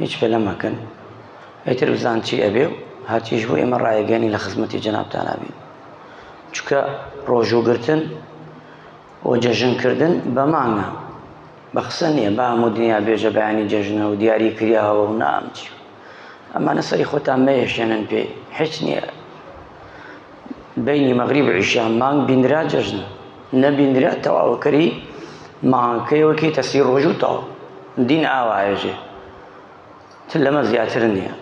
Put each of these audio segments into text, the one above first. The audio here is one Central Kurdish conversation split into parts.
هیچ پەلە مەکەن ئیتر بزان چی ئەبێ و هەرچیش بوو ئێمە ڕایەگەنی لە خزمەتی جەنابتانا بین چکە ڕۆژووگرتن و جەژنکردن بە مانگە بە قسە نییە با هەموو دنیا بێژە بەیانی جەژنە و دیاری کریاوە و نامچی ئەمانە سەری خۆتان مەیەشێنن پێ هیچ نییە بینی مەغریب عیشان مانگ بینرا جەژنە نەبینرا تەواوکەری مانکەی وەکیتە سی ڕۆژ و تەواو دین ئاوایە جێ تر لەمە زیاتر نییە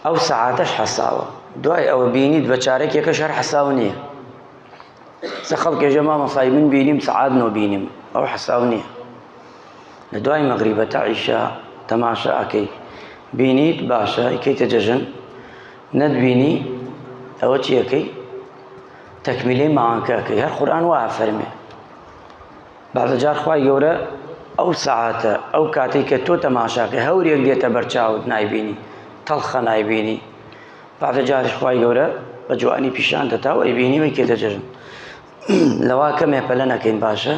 ئەو سەعاتەش حەساوە دوای ئەوە بینیت بە چارەکێکە شەر حەساو نییە سە خەڵکێژە مامەسای من بینیم سەعات نۆ بینیم ئەو حەساو نییە لە دوای مەغریبەتە عیشە تەماشا ئەەکەی بینیت باشە ئیکەیتە جەژن نەت بینی ئەوە چی ئەکەی تەکمیلەی مەعانکە ئەکەی هەر قورئان وا ئەفەرمێ بەعزە جار خوای گەورە ئەو سەعاتە ئەو کاتێک کە تۆ تەماشاکە هەورێک دێتە بەرچاوت نایبینی تەڵخە نایبینی بەعزە جاریش خوای گەورە بە جوانی پیشان دەتا و ئەیبینی وەی کێتە جەژن لەوا کەمێ پەلە نەکەین باشە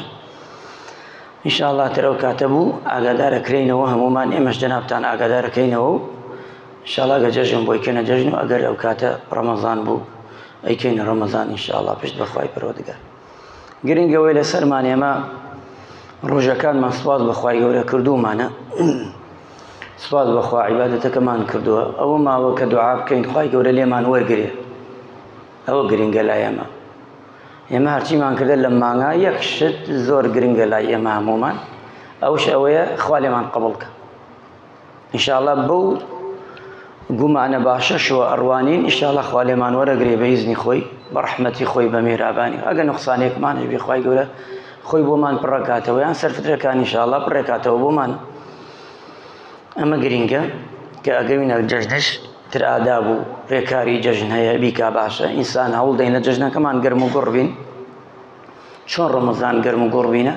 ئیشاءڵا تر ئەو کاتە بوو ئاگادارەکرینەوە هەمومان ئێمەش جەنابان ئاگادارەکەینەوە و شڵا گە جەژن بۆی کەنە جەژن و ئەگەر ئەو کاتە ڕەمەزان بوو ئەیکەینە ڕەمەزان ئیشاءڵا پشت بەخوای پەرۆدگار گرنگەوەی لە سەرمان ئێمە ڕۆژەکانمان سوپاس بەخوای گەورە کردومانە سوپاس بەخوا عیباەتەکەمان کردووە ئەوە ماوە کە دوعا بکەین خی گەورە لێمان وەرگێ ئەوە گرنگە لای ئێمە ئێمە هەرچیمان کردە لە مانگا یەک شت زۆر گرنگە لای ئێمە هەمومان ئەوش ئەوەیە خوا لێمان قبڵکە ئینشاءڵە بەو گومانە باشەشەوە ئەڕوانین ئیشاڵە خوا لێمان وەرەگرێ بە هیزنی خۆی بە ڕحمەتی خۆی بە مێرابانی ئەگە نقصانێکمان هەبی خی گەورە خۆی بۆمان پڕکاتەوە یان سەرفترەکانی شاڵە پڕێکاتەوە بۆمان ئەمە گرینگە کە ئەگەوینە جەژنش تر ئاداب و ڕێکاری جەژن هەیە بیکا باشە ئینسان هەوڵ دەین لە جەژنەکەمان گەرم و گوڕ بین چۆن ڕۆمەزان گەرم و گوڕ بینە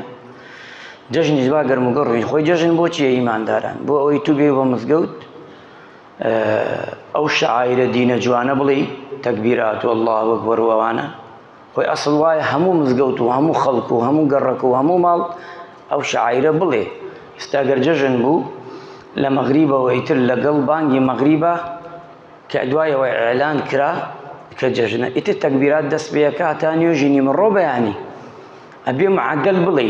جەژنیش با گەرم و گوڕ بین خۆی جەژن بۆ چیە ئیمانداران بۆ ئەوەی تو بێ بە مزگەوت ئەو شعائرە دینە جوانە بڵێی تەکبیرات و اللە وەکبەر و ئەوانە خۆی ئەسڵ وایە هەموو مزگەوت و هەموو خەڵک و هەموو گەڕەک و هەموو ماڵ ئەو شعیرە بڵێ ئستاگەر جەژن بوو لە مەغریبەوە ئیتر لەگەڵ بانگی مەغریبە کە دوایەوە ئەلان کرا کە جەژنە ئیتر تەکبیرات دەست پێەکە تا نوێژی نیمەڕۆ بەیانی ئەبێ معدل بڵێ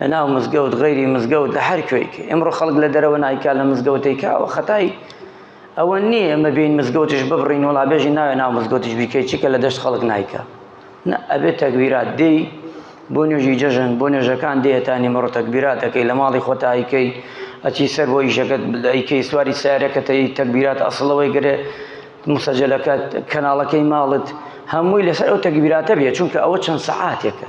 لەناو مزگەوت غەیری مزگەوت لە هەر کوێیکە ئێمڕۆ خەڵک لە دەرەوە نایکا لە مزگەوتەی کاوە خەتای ئەوە نییە ئێمە بین مزگەوتش ببڕین وڵا بێژی ناوێ ناو مزگەوتش بیکەی چیکە لە دەشت خەڵک نایکا نە ئەبێت تەگویرات دێی بۆ نوێژی جەژن بۆ نوێژەکان دێتانی مەڕۆ تەگبیراتەکەی لە ماڵی خۆتایکەی ئەچی سەر بۆ ئیشەکەت ئەیکەی سواری سارەکەتەی تەگبیرات ئەسڵەوەی گرێ مسەجلەکە کەناڵەکەی ماڵت هەمووی لەسەر ئەو تەگبیراتە بێ چونکە ئەوە چەند سەعاتێکە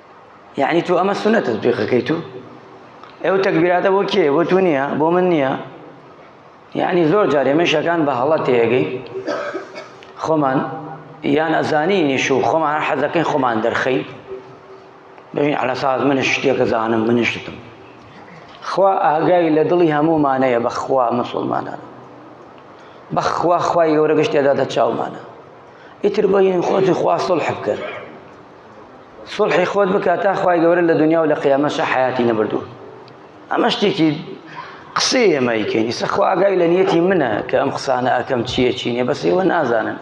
یعنی تۆ ئەمە سنە تەزبیقەکەی تو ئەو تەکبیراتە بۆ کێ بۆ تو نییە بۆ من نییە یعنی زۆر جار ئێمە شەکان بە هەڵە تێگەی خۆمان یان ئەزانینیش و خۆمان حەزەکەی خۆمان دەرخەی بژین علا ساز منش شتێکە زانم منشتم خوا ئاگای لە دڵی هەموومانەیە بەخوا مسلمانان بەخوا خوای گەورە گشتێدا دە چاومانە ئیتر بۆ یین خۆتی خوا سڵح بکەن سوڵحی خۆت بکە تا خوای گەورە لە دنیا و لە قیامەشە حیاتی نەبردوو ئەمە شتێکی قسەی ئێمە یکەین ئیسە خوا ئاگای لە نیەتی منە کە ئەم قسانە ئەکەم چییە چی نیە بەس ئێوە نازانن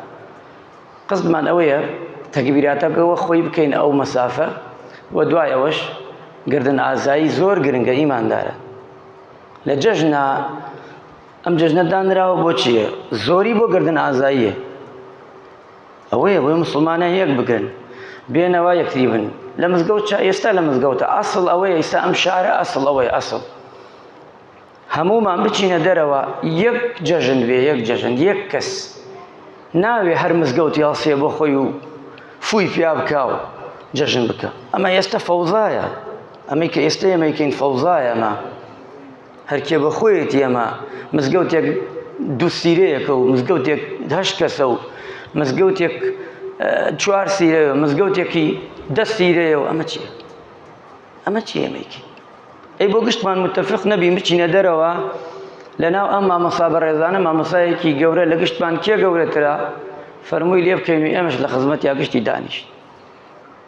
قسمان ئەوەیە تەگبیراتە بەوە خۆی بکەین ئەو مەسافە و دوای ئەوەش گردن ئازایی زۆر گرنگە ئیماندارە لە جەژنا ئەم جەژنە دانراوە بۆ چییە زۆری بۆ گردن ئازاییە ئەوەیە بۆیە موسڵمانان یەک بگرن بێنەوا یەکتری بن لە مزگەوت چا ئێستا لە مزگەوتە ئەسڵ ئەوەیە ئیستا ئەم شارە ئەسڵ ئەوەیە ئەسڵ هەمومان بچینە دەرەوە یەک جەژن بێ یەک جەژن یەک کەس ناوێ هەر مزگەوت یاڵسێ بۆ خۆی و فوی پیا بکە و جەژن بکە ئەمە ئێستا فەوزایە ئەمەی کە ئێستا ئەمەیکەین فەوزایە ئەمە هەرکێ بەخۆیەتی ئەمە مزگەوتێک دوو سیرەیەکە و مزگەوتێک هەشت کەسە و مزگەوتێک چوار سیرە مزگەوتێکی دە سیرەیە و ئەمە چیە ئەمە چی ئەمەیکی ئەی بۆ گشتمان متفق نەبی بچینە دەرەوە لەناو ئەم مامەسا بە ڕێزانە مامەسایەکی گەورە لە گشتمان کێ گەورەترە فەرمووی لێ بکەین و ئێمەش لە خزمەت یا گشتی دانیشت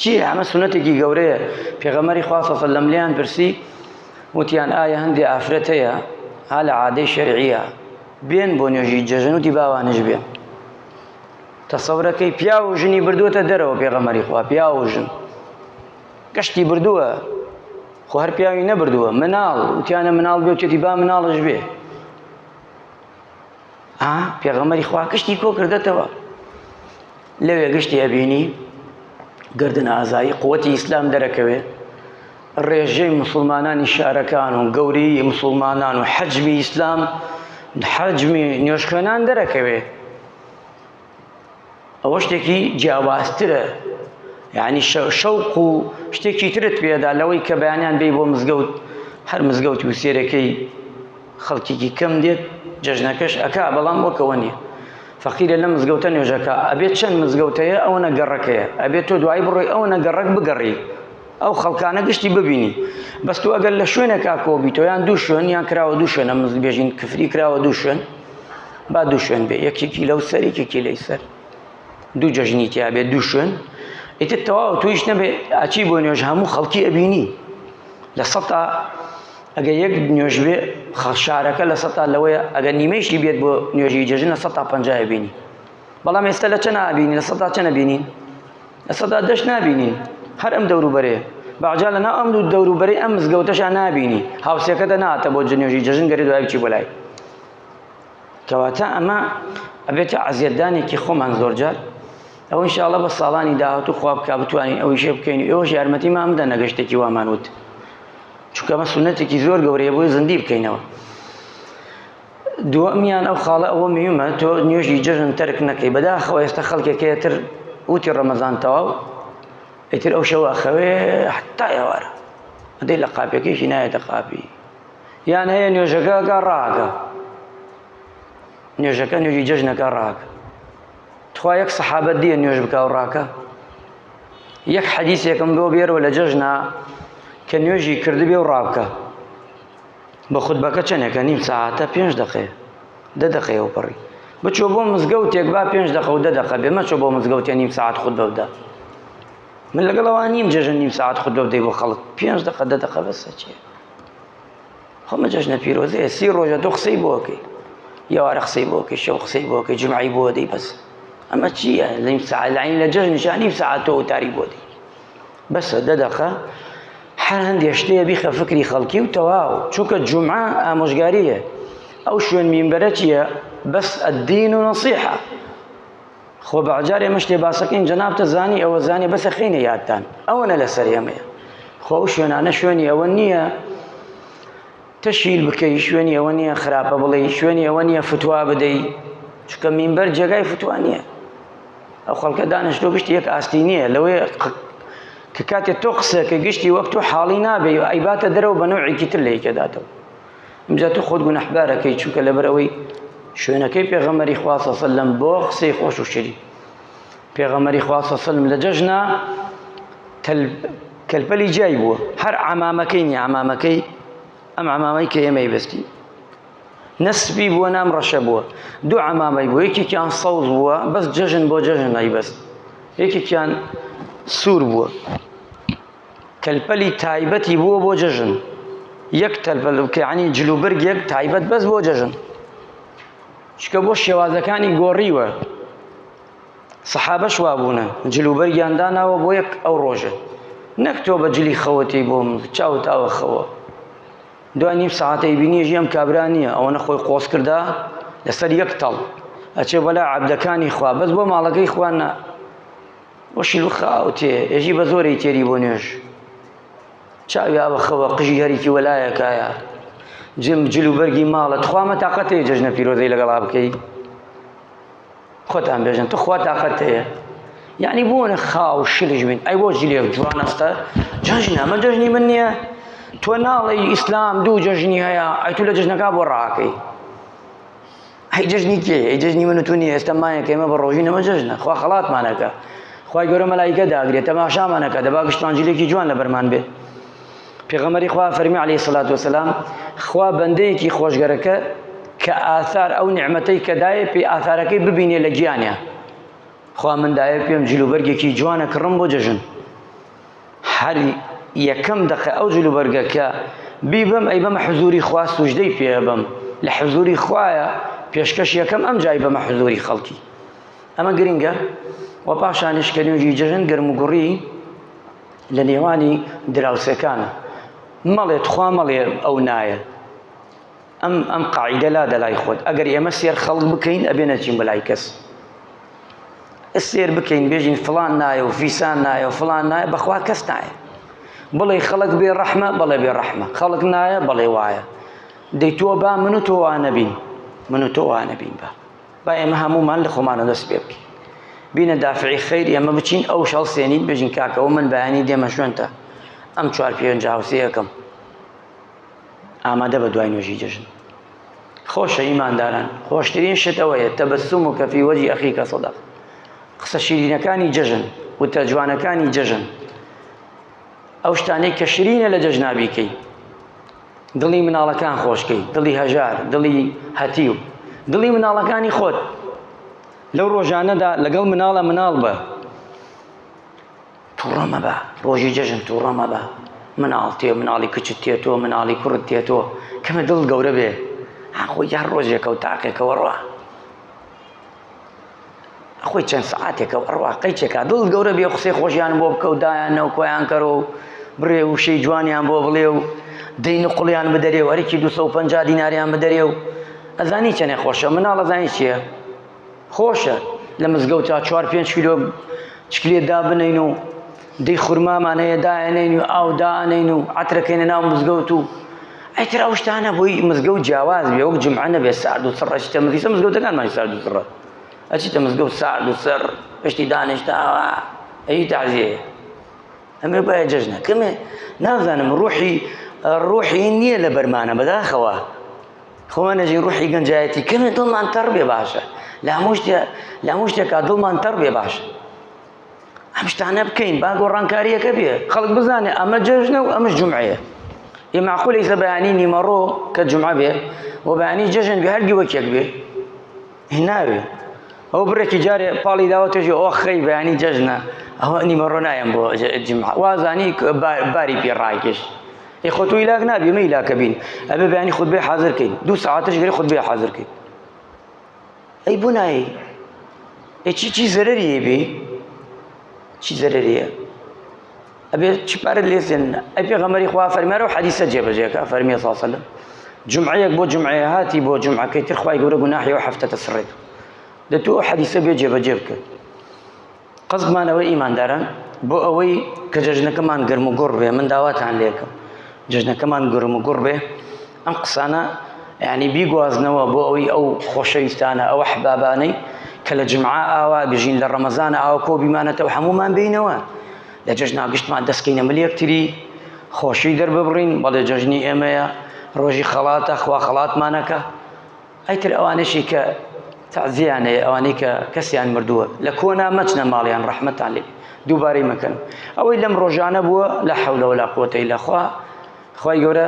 چییە ئەمە سونەتێکی گەورەیە پێغەمەری خوا صلی الله لەم پرسی وتیان ئایا هەندێ ئافرەت هەیە ها لە عادەی شەرعیە بێن بۆ نوێژی جەژن وتی باوانش بێن تەسەورەکەی پیا و ژنی بردووتە دەرەوە پێغەمەری خوا پیا و ژن گەشتی بردووە خۆ هەر پیاوی نەبردووە مناڵ وتیانە مناڵ بێتێتی با مناڵش بێ ها پێغەمەری خوا کشتی کۆ کردێتەوە لەوێ گشتی ئەبینی گردن ئازایی قوتی ئیسلام دەرەکەوێ ڕێژەی مسلمانانی شارەکان و گەوری مسلمانان و حەجمی ئیسلام حەجمی نوێشکێنان دەرەکەوێ ئەوە شتێکی جیاوازترە یعنی شەوق و شتێکی ترت پێدا لەوەی کە بەیانیان بێ بۆ مزگەوت هەر مزگەوت و سێرەکەی خەڵکیکی کەم دێت جەژنەکەش ئەکا بەڵام وەکەوە نیە فەقیرە لە مزگەوتە نوێژەکە ئەبێت چەند مزگەوتەیە ئەوە نەگەڕەکەیە ئەبێت تۆ دوایی بڕۆی ئەوە نەگەڕک بگەڕی ئەو خەڵکانە گشتی ببینی بەس تۆ ئەگەر لە شوێنێکا کۆبیتەوە یان دوو شوێن یان کراوە دوو شوێنە مزل بێژین کفری کراوە دوو شوێن با دوو شوێن بێ یەکێکی لەو سەر یەکێکی لەی سەر دوو جەژنی تیا بێ دوو شوێن ئیتر تەواو تویش نەبێ ئاچی بۆ نوێژ هەموو خەڵکی ئەبینی لە سەتا ئەگە یەک نوێژ بێ شارەکە لە سەتا لەوەیە ئەگە نیمەیشی بێت بۆ نوێژی جەژن لە سەتا پنجای بینی بەڵام ئێستا لە چەند ئابینی لە سەتا چەنە بینین لە سەدا دەش نابینین هەر ئەم دەوروبەرەیە بەعجا لە ناو ئەم دوو دەوروبەرەی ئەم مزگەوتەشا نابینی هاوسێکە دەناتە بۆ جنێژی جەژن گەری دوای بچی بۆ لای کەواتە ئەمە ئەبێتە عزیەتدانێکی خۆمان زۆرجار ئەو انشاءڵە بە ساڵانی داهات و خواب کا بتوانین ئەوی شێ بکەین ئێوەش یارمەتی مام بدە نەگەشتێکی وامان وت چونکەمە سونەتێکی زۆر گەورەیە بۆی زندی بکەینەوە دووەمیان ئەو خاڵە ئەوە میومە تۆ نوێژی جەژن تەرک نەکەی بەداخەوە ئێستا خەڵکێک هەیە تر وتی ڕەمەزان تەواو ئیتر ئەو شەوە ئەخەوێ حتا ئێوارە ئەدەی لە قاپەکەیشی نایەتە قاپی یان هەیە نوێژەکەگە ڕاگە نوێژەکە نوێژی جەژنەکە ڕاکە تخوا یەک سەحابە دیە نوێژ بکە و ڕاکە یەک حەدیسێکم بۆ بێرەوە لە جەژنا کە نوێژی کردبێ و ڕابکە بە خوتبەکە چەنێکە نیم سەعاتە پێنج دەقەیە دە دەقەیە و پەڕی بچۆ بۆ مزگەوتێک با پێنج دەقە و دە دەقە بێ مەچۆ بۆ مزگەوتێ نیم سەعات خود بەودا من لەگەڵەوە نیم جێژن نیم سەعات خود بەودەی بۆ خەڵک پێنج دەقە دە دەقە بەسە چێ خۆمە جەژنە پیرۆزەیە سی ڕۆژە تۆ قسەی بۆکەی یاوارە قسەی بۆکەی شەو قسەی بۆکەی جمعی بۆ دەی بەس ئەمە چییە لەیم ساعلین لە جەژنیشان نیم ساعت تۆ وتاری بۆ دی بەسە دە دەقە هەر هەندێ شتێ بیخە فکری خەڵکی و تەواو چونکە جومعە ئامۆژگاریە ئەو شوێن مینبەرە چییە بەس ئەدین و نەسیحە خۆ بەجارێ مشتێ باسەکەین جەنابتە زانی ئەوە زانێ بەسە خینە یادتان ئەوەنە لەسەر ئێمەیە خۆ شوێنانە شوێنی ئەوە نییە تشهیر بکەی شوێنی ئەوە نییە خراپە بڵێی شوێنی ئەوە نییە فتوا بدەی چکە مینبەر جێگای فتوا نییە ئەو خەڵکە دانیشتۆ گشتی یەک ئاستی نییە لەوەی کە کاتێ تۆ قسەکە گشتی وەک تۆ حاڵی نابێ و ئەیباتە دەرەوە بە نەوعێکی تر لەیکەداتەوە ئەمجا تۆ خۆت گونەحبارەکەی چونکە لەبەرەوەی شوێنەکەی پێغەمەری خواسەسە لەم بۆ قسەی خۆش و شری پێغەمبەری خوا صلی اللە علیە و سلم لە جەژنە تەل کەلپەلی جای بووە هەر عەمامەکەی نی عەمامەکەی ئەم عەمامەی کە ئێمەی بەستی نەسبی بووە نام ڕەشە بووە دوو عەمامەی بوو یەکێکیان سەوز بووە بەس جەژن بۆ جەژن ئەی بەست یەکێکیان سوور بووە کەلپەلی تایبەتی بووە بۆ جەژن یەک تەلپەل کەعنی جلوبرگێک تایبەت بەس بۆ جەژن چکە بۆ شێوازەکانی گۆڕیوە سەحابەش وا بوونە جل و بەرگیان داناوە بۆ یەک ئەو ڕۆژە نەک تۆ بە جلی خەوەتی بۆ من چاو تاوە خەوە دوای نیم ساعتەی بینیژی ئەم کابرا نییە ئەوە نەخۆی قۆس کردا لەسەر یەک تەڵ ئەچێ بەلا عبدەکانی خوا بەس بۆ ماڵەکەی خوانە وەشی خاوتێ ئێژی بە زۆری تێری بۆ نوێژ چاوی ئاوە خەوە قژی هەریکی وەلایەکایە جم جل و بەرگی ماڵە تخوامە تااقەتێ جژنە پیرۆزەی لەگەڵا بکەیت خۆتان بێژن تخوا تاقەت هەیە یعنی بۆنە خاو شلش بین ئەی بۆ جلێک جوان ئەستە جەژن ئەمە جەژنی من نییە تۆ ناڵی ئیسلام دوو جەژنی هەیە ئەی تو لە جژنەکە بۆ ڕاکەی هەی جژنی کێ ئەی جژنی من تو نیە ئێستا مایە کەمە بە ڕۆژی نەمە جژنە خوا خەڵاتمانەکە خی گەورە مەلایکە داگرێت تەماشامانەکە دەبا گشتمان جلێکی جوان لە بەرمان بێت پێغەمبەری خوا فەرمی علیه الصلاة والسلام خوا بەندەیەکی خۆشگەرەکە کە ئاثار ئەو نعمەتەی کە دایە پێ ئاثارەکەی ببینێ لە گیانە خوا من دایە پێم جلوبەرگێکی جوانە کڕم بۆ جەژن هەر یەکەم دەقە ئەو جلوبەرگەکە بیبم ئەی بەمە حزوری خوا سوژدەی پێ بم لە حزوری خوایە پێشکەش یەکەم ئەم جای بەمە حزوری خەڵکی ئەمە گرنگە و پاشانش کە نوێژی جەژن گرم و گوڕی لە نێوانی دراوسێکانە مەڵێ تخوا مەڵێ ئەو نایە ئەم ئەم قاعدە لا دەلای خۆت ئەگەر ئێمە سێر خەڵک بکەین ئەبێ نەچین بەلای کەس سێر بکەین بێژین فلان نایە و فیسان نایە و فلان نایە بەخوا کەس نایە بڵێ خەڵک بێ ڕەحمە بەڵێ بێ ڕەحمە خەڵک نایە بەڵێ وایە دەی تۆ با من و تۆوانەبین من و تۆوانەبین بە با ئێمە هەموومان لە خۆمانە دەست پێ بکەین بینە دافعی خیر ئێمە بچین ئەو شەڵ سێنین بژین کاکەەوە من بەیانی دێمە شوێنتە ئەم چوار پێنج هاوسەیەکەم ئامادە بە دوای نوێژی جەژن خۆشە ئیمانداران خۆشترین شتەوەیە تەبسم و کەفی وەجی ئەخی کە سەدا قسە شیرینەکانی جەژن وتە جوانەکانی جەژن ئەو شتانەی کە شرینە لە جەژنابیکەی دڵی مناڵەکان خۆشکەی دڵی هەژار دڵی هەتیو دڵی مناڵەکانی خۆت لەو ڕۆژانەدا لەگەڵ مناڵە مناڵ بە توڕەمە بە ڕۆژی جەژن توڕەمە بە مناڵ تێ مناڵی کچت تێتۆ مناڵی کوڕت تێتۆ کەمە دڵ گەورە بێ ئاخۆ یار ڕۆژێکە و تاقێکەوە ڕە خۆی چەند سەعاتێکە و ئەڕوا قەیچێکا دڵت گەورە بێ و قسەی خۆشیان بۆ بکە و دایان نەو کۆیان کەرۆ و بڕێ وشەی جوانیان بۆ بڵێ و دەین و قڵیان بدەرێ و هەرکی 250 دیناریان بدەرێ و ئەزانی چەنێ خۆشە مناڵ ئەزانی چییە خۆشە لە مزگەوتا چوار پێنج کیلۆ چکلێ دابنین و دەی خورمامان هەیە دائەنێین و ئاو دائەنێین و عەترەکەینە ناو مزگەوت و ئەیتر ئەو شتانە بۆی مزگەوت جیاواز بێ وەک جمعە نەبێ سارد و سڕ ئەچیتە مزگەوت مزگەوتەکانمان سارد و سڕە ئەچیتە مزگەوت سارد و سڕ پشتی دانیشتاوە ئەی تەعزیە ئەمێ باە جەژنە کەمێ نازانم ڕوحی ڕوحی نییە لە بەرمانە بەداخەوە خۆمان نەژین ڕوحی گەنجایەتی کەمێ دڵمان تەڕ بێ باشە لە هەموو شتێ لە هەموو شتێکا دڵمان تەڕ بێ باشە ئەم شتانە بکەین با گۆڕانکاریەکە بێ خەڵک بزانێ ئەمە جەژنە و ئەمە جمعەیە یە معقولە ئیسە بەیانی نیمەڕۆ کە جمعە بێ و بەیانی جەژن بێ هەردی وەکێک بێ هیناوێ ئەو برێکی جارێ پاڵی داوە توێژی ئەو خەی بەیانی جەژنە ئەوە نیمەڕۆ نایەم بۆ جمعە وازانی باری پێ ڕاکێش ی خۆ تو ئیلاک نابی مە ئیلاکە بین ئەبێ بەیانی خود بێ حاضرکەین دوو ساعتش گەری خود بێ حاضرکەین ئەی بۆ نایەی ئەی چی چی زەرەری هەیە چی زەرەری هەیە ئەبێ چی پارە لێسێنن ئەی پێغەمبەری خوا فەرمارە و حەدیسە جێبەجێکە فەرمی صلی الله علیه وسلم جمعەیەک بۆ جمعەیە هاتی بۆ جمعەکەی تر خوای گەورە گوناحی و هەفتەتە سڕێت دە تۆ حەدیسە بێ جێبەجێ بکە قەزمان ئەوەی ئیمانداران بۆ ئەوەی کە جەژنەکەمان گرم و گوڕ بێ من داواتان لێکم جەژنەکەمان گرم و گوڕ بێ ئەم قسانە ینی بیگوازنەوە بۆ ئەوەی ئەو خۆشەویستانە ئەوە حبابانەی کە لە جمعا ئاوا بژین لە ڕەمەزان ئاوا کۆ بیمانەتەوە هەمومان بینەوە لە جەژنا گشتمان دەستکەینە ملیەکتری خۆشی دەرببڕین بەڵێ جەژنی ئێمەیە ڕۆژی خەڵاتە خوا خەڵاتمانەکە ئەیتر ئەوانەشی کە تەعزیەیان هەیە ئەوانەی کە کەسیان مردووە لە کۆنا مەچنە ماڵیان ڕەحمەتان لێ دووبارەی مەکەن ئەوەی لەم ڕۆژانە بووە لە حەولەوە لە قوتەی لەخوا خی گەورە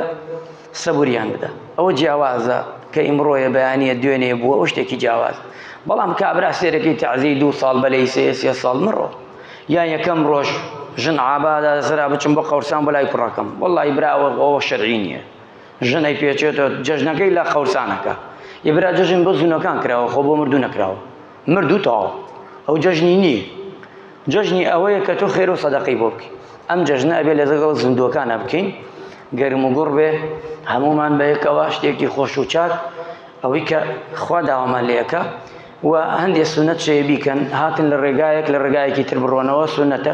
سەبوریان بدە ئەوە جیاوازە کە ئیمڕۆیە بەیانە دوێنێ بووە ئەو شتێکی جیاواز بەڵام کابرا سێرەکەی تەعزی دوو ساڵ بەلەی سێ سێ ساڵ مڕۆ یان یەکەم ڕۆژ ژن عبادا زرا بچم بۆ قەورسان بەلای کوڕەکەم وڵی براوە ئەوە شەرعی نییە ژن ئەی پێچێتەوە جەژنەکەی لە قەورسانەکە یە برا جەژن بۆ زونەکان کراوە خۆ بۆ مردوو نەکراوە مردوو تاوە ئەو جەژنی نییە جەژنی ئەوەیە کە تۆ خێر و سەدەقی بۆ بکەین ئەم جەژنە ئەبێ لە دەگەڵ زیندووەکانە بکەین گەرم و گوڕ بێ هەمومان بە یەکەوە شتێکی خۆش و چاک ئەوەی کە خوا داوامان لەکە و هەندێک سونەت شەیە بیکەن هاتن لە ڕێگایەک لە ڕێگایەکی تر بڕۆنەوە سونەتە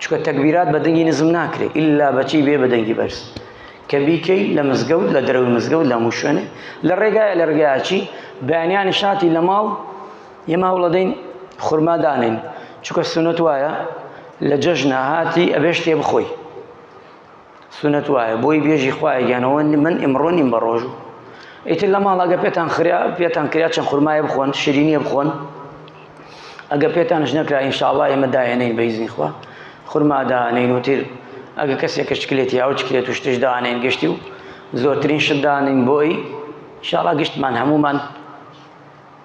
چکە تەکبیرات بە دەنگی نزم ناکرێ ئللا بەچی بێ بە دەنگی بەرز کە بیکەی لە مزگەوت لە دەرەوەی مزگەوت لە هەموو شوێنێ لە ڕێگایە لە ڕێگایچی بەیانیان شاتی لە ماڵ یەما وڵەدەین خورما دانێن چکە سونەت وایە لە جەژنە هاتی ئەبێ شتێ بخۆی سونەت وایە بۆی بێژی خوایە گیانەوە من ئمڕۆ نیم بە ڕۆژوو ئیتر لە ماڵەگە پێتان خریا پێتان کریا چەند خورمایە بخۆن شیرینیە بخۆن ئەگە پێتانش نەکرا ئینشاءڵا ئێمە داێنین بەیزنی خوا خورما دانین وتر ئەگە کەسێکە شکلێت یا و چکلێت و شتش دانین گەشتی و زۆرترین شت دانین بۆی شاڵا گشتمان هەمومان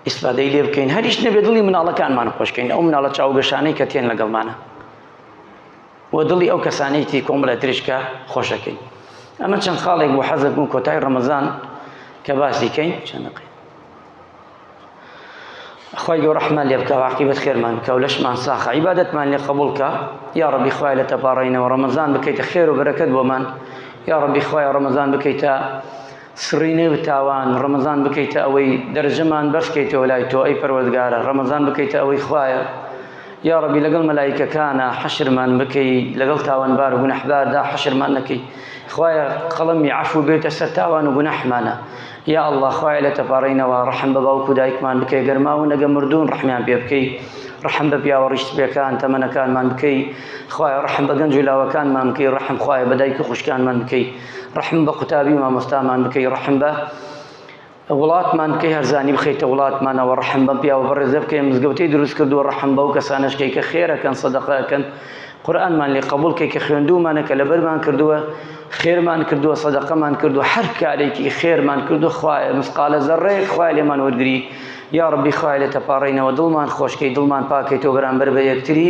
ئیسفادەی لێ بکەین هەریش نەبێ دڵی مناڵەکانمان خۆشکەین ئەو مناڵە چاوگەشانەی کە تێن لەگەڵمانە و دڵی ئەو کەسانەی تری کۆمەڵە تریش کە خۆشەکەین ئەمە چەند خاڵێک بۆ حەزت بوو کۆتای ڕەمەزان کە باسی کەین چەندەقی خی گەۆ ڕحمان لێ بکە واقیبەت خێرمان کە و لەشمان ساخە عیباەتمان لێ قبولکە یا ڕبی خوای لە تەپاڕینەوە ڕەمەزان بکەیتە خێر و بەرەکەت بۆمان یا ڕبی خوای ڕەمەزان بکەیتە سڕینێ و تاوان، ڕەمەزان بکەیتە ئەوەی دەرەجەمان بەرز کەیتەوە لای تۆ ئەی پەروەردگارە، ڕەمەزان بکەیتە ئەوەی خوایە یاڕەبی لەگەڵ مەلایکەکانا حەشرمان بکەی لەگەڵ تاوانبار و گوناحباردا حەشرمان نەکەی خوایە قەڵەمی عەفو بێتە سەر تاوان و گوناحمانا یا اللە خوایە لە تەپارەینەوە ڕەحم بە باوک و دایکمان بکەی گەر ماون ئەگە مردوون ڕەحمیان پێ بکەی ڕەحم بە پیاوە ڕیشت پێکان تەمەنەکانمان بکەی خوایە ڕەحم بە گەنج و لاوەکانمان بکەی ڕەحم خوایە بە دایک و خوشکانمان بکەی ڕەحم بە قوتابی مامۆستامان بکەی ڕەحم بە وڵاتمان بکەی هەرزانی بخیتە وڵاتمانەوە ڕەحم بە پیاوە بەڕێزە بکەی مزگەوتەی دروست کردو ڕەحم بە و کەسانشکەی کە خێرەکەن سەدەقەکەن قورآنمان لێ قبول کەی کە خوێندومانە کە لەبەرمان کردووە خێرمان کردووە سەدەقەمان کردو هەر کارێکی خێرمان کردو خوایە مسقالە زەڕەیەک خوای لێمان وەرگری یا ڕبی خوای لێ تەپاڕینەوە دڵمان خۆشکەی دڵمان پاکەیتەوە بەرامبەر بە یەکتری